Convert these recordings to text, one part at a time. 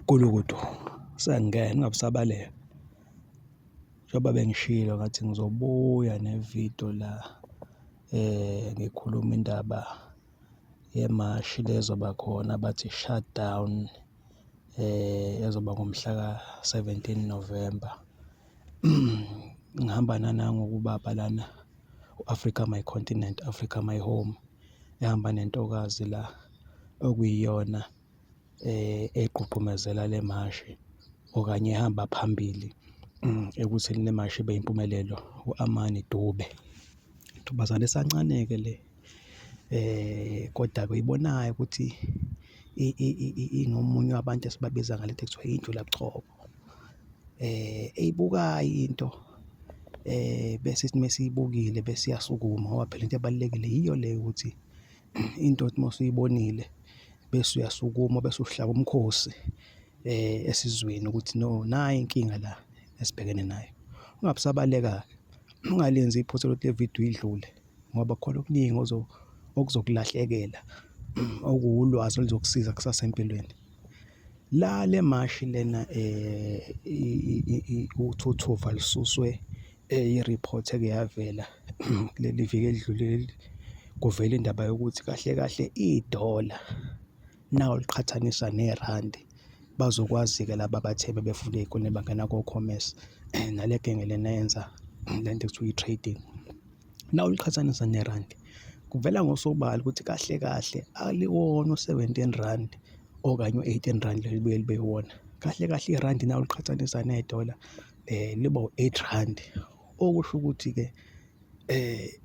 Gulukudu, Sengingena ingabe usabalele? Njengoba bengishilo ngathi ngizobuya ne-video la ngikhuluma indaba yemashi le ezoba khona abathi i-shut down ezoba ngomhla ka-seventeen November. Ngihamba nanangu-ke ubaba lana u-Africa My Continent, Africa My Home, ehamba nentokazi la okuyiyona. egqugqumezela le mashi okanye ehamba phambili ekutheni le mashi ibe impumelelo u-Amani Dube. Ntombazane esancane-ke le koda-ke uyibonayo ukuthi ingomunye wabantu esibabiza ngale nto ekuthiwa injulabuchopho. Eyibukayo into bese sithi mesiyibukile bese iyasukuma ngoba phela into ebalulekile yiyo le yokuthi Into othi uma usuyibonile bese uyasukuma bese uhlaba umkhosi esizweni ukuthi no nayi inkinga la esibhekene nayo. Ungabe usabaleka-ke, ungalenzi iphutha lokuthi le vidiyo idlule ngoba kukhona okuningi okuzokulahlekela okuwulwazi oluzokusiza kusasa empilweni. La le mashi lena uthuthuva lususwe i-report eke yavela kuleli viki elidlule kuvela indaba yokuthi kahle kahle idola nawu liqhathaniswa nerandi bazokwazi-ke laba abathebe befunda ey'koleni bangena ko-commerce nale genge lena yenza le nto ekuthiwa i-trading nawu liqhathaniswa nerandi kuvela ngosobala ukuthi kahle kahle aliwona u-seventeen randi okanye u-eighteen randi lelibuye libe iwona kahle kahle irandi nawu liqhathanisa nedola eh liba u-8 rand okusho ukuthi ke eh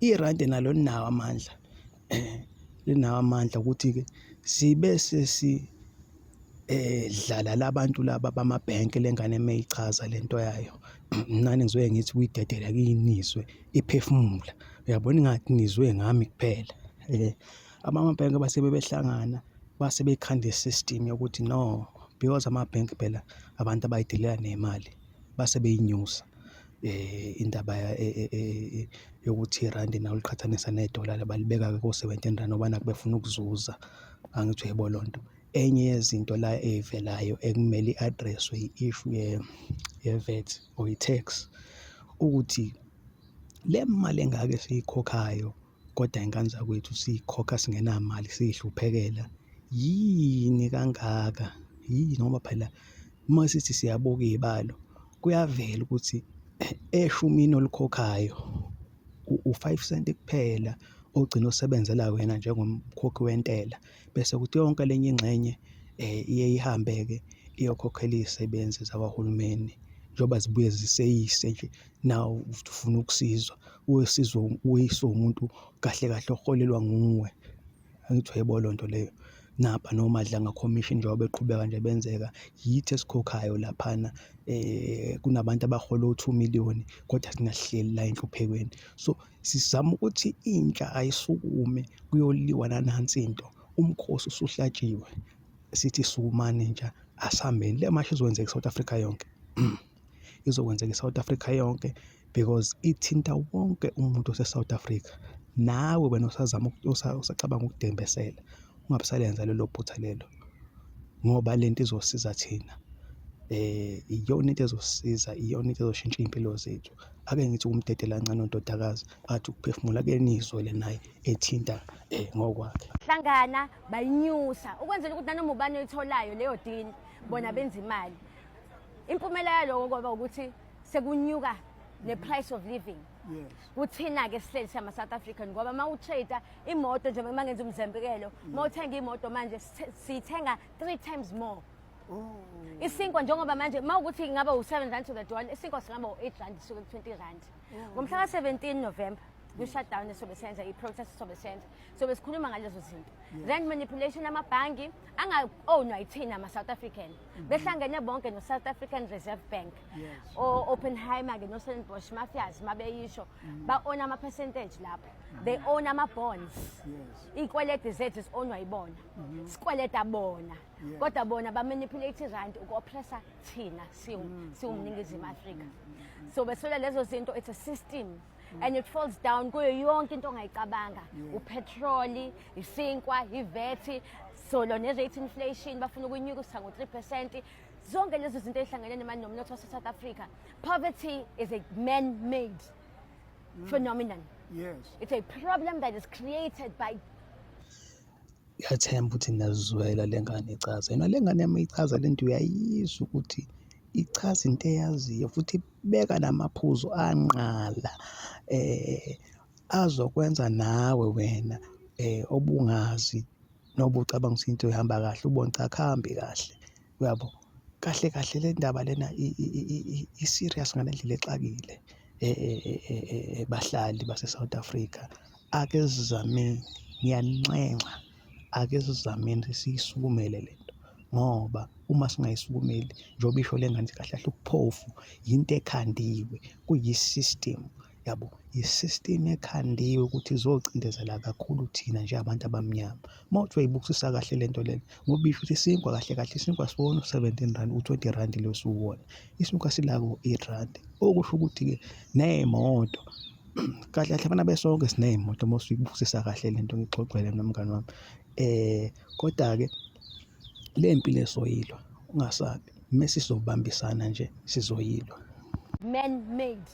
irandi nalo linawo amandla eh linawo amandla ukuthi ke sibe sesi eh dlala labantu laba bamabhenki lengane emeyichaza lento yayo nani ngizoye ngithi kuyidedela kuyinizwe iphefumula uyabona ingathi nizwe ngami kuphela eh Amabhenki base bebehlangana base bekhanda i-system yokuthi no because amabhenki phela abantu abayidelela nemali base beyinyusa indaba yokuthi irandi nalo liqhathaniswa ne-dollar balibeka ko-seventeen rand ngoba nakhu befuna ukuzuza, angithi uyayibona leyo nto. Enye yezinto la ey'velayo ekumele i-address-we i-issue ye-VAT or i-tax ukuthi le mali engaka esiyikhokhayo Kodwa ingane zakwethu siyikhokha singenamali siyihluphekela yini kangaka yini ngoba phela uma sithi siyabuka iy'balo kuyavela ukuthi eshumini olikhokhayo u-five cent kuphela ogcina usebenzela wena njengomkhokhi wentela bese kuthi yonke le enye ingxenye iye ihambe-ke iyokhokhela iy'sebenzi zakahulumeni njengoba zibuye ziseyise nje nawe ufuna ukusizwa wesizwa uyiswa umuntu kahle kahle oholelwa nguwe angithi uyayibona leyo nto leyo naba nomadla ngakhomishini njengoba beqhubeka nje benzeka yithi esikhokhayo laphana um kunabantu abahola o-two million kodwa thina sihleli la enhluphekweni so sizama ukuthi intsha ayisukume kuyoliwa nanansi into umkhosi usuhlatshiwe sithi sukumani intsha asihambeni le mashi izokwenzeka i-south africa yonke izokwenzeka i-South Africa yonke because ithinta wonke umuntu ose-South Africa. Nawe wena osazama usacabanga ukudembesela ungabe usalenza lelo phutha lelo ngoba le nto izosiza thina. Iyona into ezosisiza, iyona into ezoshintsha iy'mpilo zethu. Ake ngithi uwumdedelakancane undodakazi athi ukuphefumula ake niyizwele naye ethinta ngokwakhe. Hlangana bayinyusa ukwenzela ukuthi nanoma ubani oyitholayo leyo deal bona benza imali. impumela yaloko kwaba ukuthi sekunyuka ne-price of living kuthina-ke sihleli sama south african ngoba uma utrade imoto njengoba uma ngenza umzembekelo uma uthenga imoto manje siyithenga three times more oh. isinkwa njengoba manje uma ukuthi ingaba u-seven rand to the dollar isinkwa singaba u-eight rand suke ku-twenty rand oh. ngomhla ka-seventeen november kwi-shutdown esobe senza i-protest esobe senza sobe sikhuluma ngalezo zinto rand manipulation amabhangi anga-ownwa yithina ama-south african Mhm. behlangene bonke no-south african reserve bank o-oppenheimer-ke noselenbosh mafias uma beyisho mhm. ba-ona ama-percentage lapho mhm. they own ama-bonds iy'kwelede zethu zi-onwa yibona sikweleda bona kodwa bona bamanipulate irandi uku-oppressa thina siwumningizimu afrika so beswela lezo zinto it's a system Mm. and it falls down kuyo yonke into ongayicabanga upetroli isinkwa ivethi solo ne-rate inflation bafuna ukunyuka usa ngo-three percent zonke lezo zinto ezihlangene nemali nomnotho wase-south africa poverty is a man-made mm. phenomenon yes it's a problem that is created by ngiyathemba ukuthi nazizwela le ngane ichaza yona le ngane yami ichaza le nto uyayizwa ukuthi ichaza into eyaziyo futhi Beka la maphuzu anqala azokwenza nawe wena obungazi noma ucabanga ukuthi into ihamba kahle ubone cha akuhambi kahle, uyabo? Kahle kahle le ndaba lena i-serious ngale ndlela exakile bahlali base-South Africa, ake sizameni, ngiyaninxenxa. Ake sizameni ukuthi siyisukumele le nto ngoba uma singayisukumeli njengoba isho le ngane ithi kahle kahle ubuphofu yinto ekhandiwe, kuyi-system yabo. Yi-system ekhandiwe ukuthi izocindezela kakhulu thina njengabantu abamnyama. Uma uthi uyoyibukisisa kahle le nto lena ngoba isho ukuthi isinkwa kahle kahle isinkwa asiwona u-seventeen rand, u-twenty rand lo esiwuwona, isinkwa sila ko-eight rand. Okusho ukuthi-ke ney'moto. Kahle kahle bana besonke siney'moto uma usuyibukisisa kahle le nto ngixoxele mina mngani wami. Koda-ke le mpilo esoyilwa ungasabi, uma sizobambisana nje sizoyilwa. Man made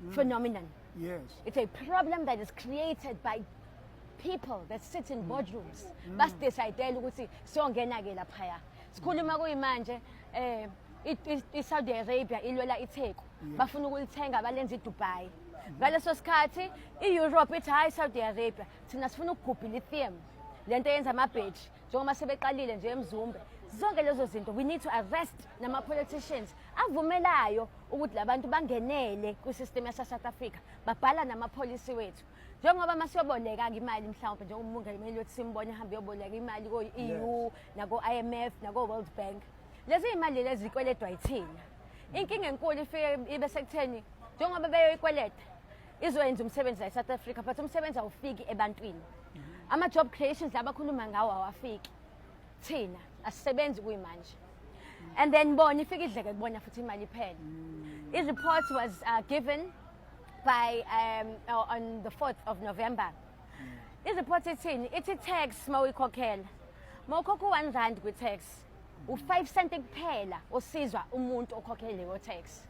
mm. phenomenon. Yes. It's a problem that is created by people that sit in mm. boardrooms. Mm. Basidecide ukuthi siyongena-ke laphaya. Sikhuluma kuyimanje um i-saudi arabia ilwela itheku bafuna ukulithenga balenza idubai ngaleso sikhathi i-europe ithi hhayi i-saudi arabia thina sifuna ukugubha ilithium le nto yenza amabheji njengoba sebeqalile nje emzumbe zonke lezo zinto we need to arrest nama-politicians avumelayo ukuthi labantu bangenele kwisystem yasasouth africa babhala namapholisi wethu njengoba uma siyoboleka-ke imali mhlawumpe njengoba umungameli wethu simbone hambe uyoboleka imali ko-eu nako-i m f nako-world bank Lezi imali lezi zikweledwa yithina. Inkinga enkulu ifike ibe sekutheni njengoba beyoyikweleta izoyenza umsebenzi la eSouth Africa but umsebenzi awufiki ebantwini. Ama job creations labakhuluma ngawo awafiki. Thina asisebenzi kuyimanje. And then bona ifike idleke kubona futhi imali iphele. I report was uh, given by um, uh, on the 4th of November. I report ithini? Ithi tax mawuyikhokhela. Mawukhokha 1 rand kwi tax. u-5 cent kuphela osizwa umuntu okhokhela leyo tax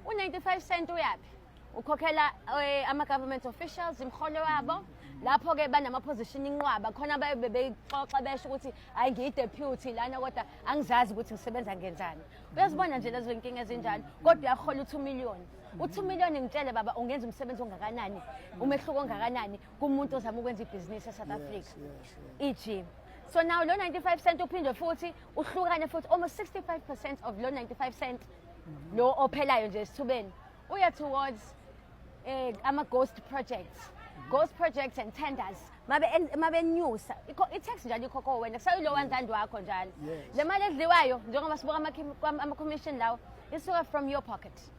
u-95 cent uyaphi ukhokhela eh, ama-government officials imholo wabo lapho-ke banama-position inqwaba khona baye bebeyixoxa besho ukuthi hhayi ngiyi-deputy lana kodwa angizazi ukuthi ngisebenza ngenzani uyazibona nje lezo nkinga ezinjalo kodwa uyahola u-two million u-two million ngitshele baba ungenza umsebenzi ongakanani umehluko ongakanani kumuntu ozama ukwenza ibhizinisi eSouth Africa ijim so now lo 95 cent uphinde futhi uhlukane futhi almost 65 percent of lo 95 cent mhm. lo ophelayo nje esithubeni uya towards um ama-ghost projects mhm. ghost projects and tenders mabenyusa i-tax njalo ikhokho wena kusayilo one rand wakho njalo le mali edliwayo njengoba sibuka ama-commission lawo isuka from your pocket mm -hmm.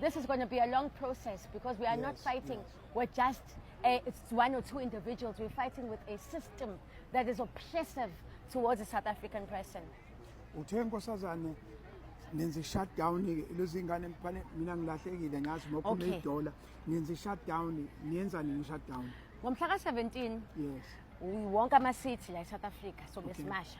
This is going to be a long process because we are yes, not fighting yes. with just a, it's one or two individuals. We're fighting with a system that is oppressive towards the South African person. Uthe nkosazane nenze shutdown lezi ngane mfane mina ngilahlekile ngazi mokho okay. dollar nenze shutdown niyenza nini shutdown ngomhla ka 17 yes wonke ama city la eSouth Africa so okay. besimasha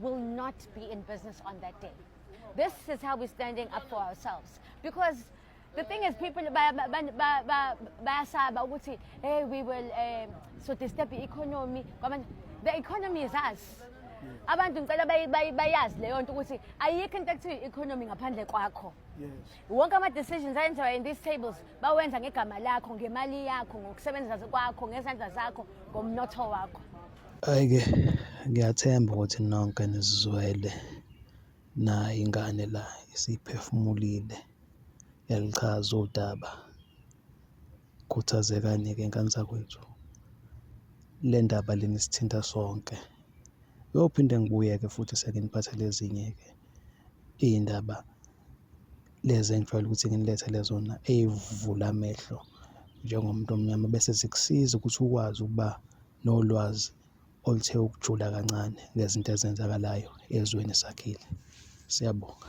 will not be in business on that day. This is how we're standing up for ourselves. Because the thing is, people bayasaba ukuthi, hey, we will um, so disturb the economy. The economy is us. abantu ngicela bayazi leyo nto ukuthi ayikho into ekuthiwa i-economy ngaphandle kwakho wonke ama-decisions ayenziwa in these tables bawenza ngegama lakho ngemali yakho ngokusebenza kwakho ngezandla zakho ngomnotho wakho Hhayi-ke ngiyathemba ukuthi nonke nizizwele nayi ingane la isiphefumulile yaluchaza udaba. Khuthazekani-ke ngane zakwethu, le ndaba lena isithinta sonke. Ngiyophinde ngibuye-ke futhi senginiphathele ezinye-ke iy'ndaba lezi engijwayele ukuthi nginilethele zona ey'vula amehlo njengomuntu omnyama bese zikusiza ukuthi ukwazi ukuba. nolwazi oluthe ukujula kancane ngezinto ezenzakalayo ezweni esakhile. Siyabonga.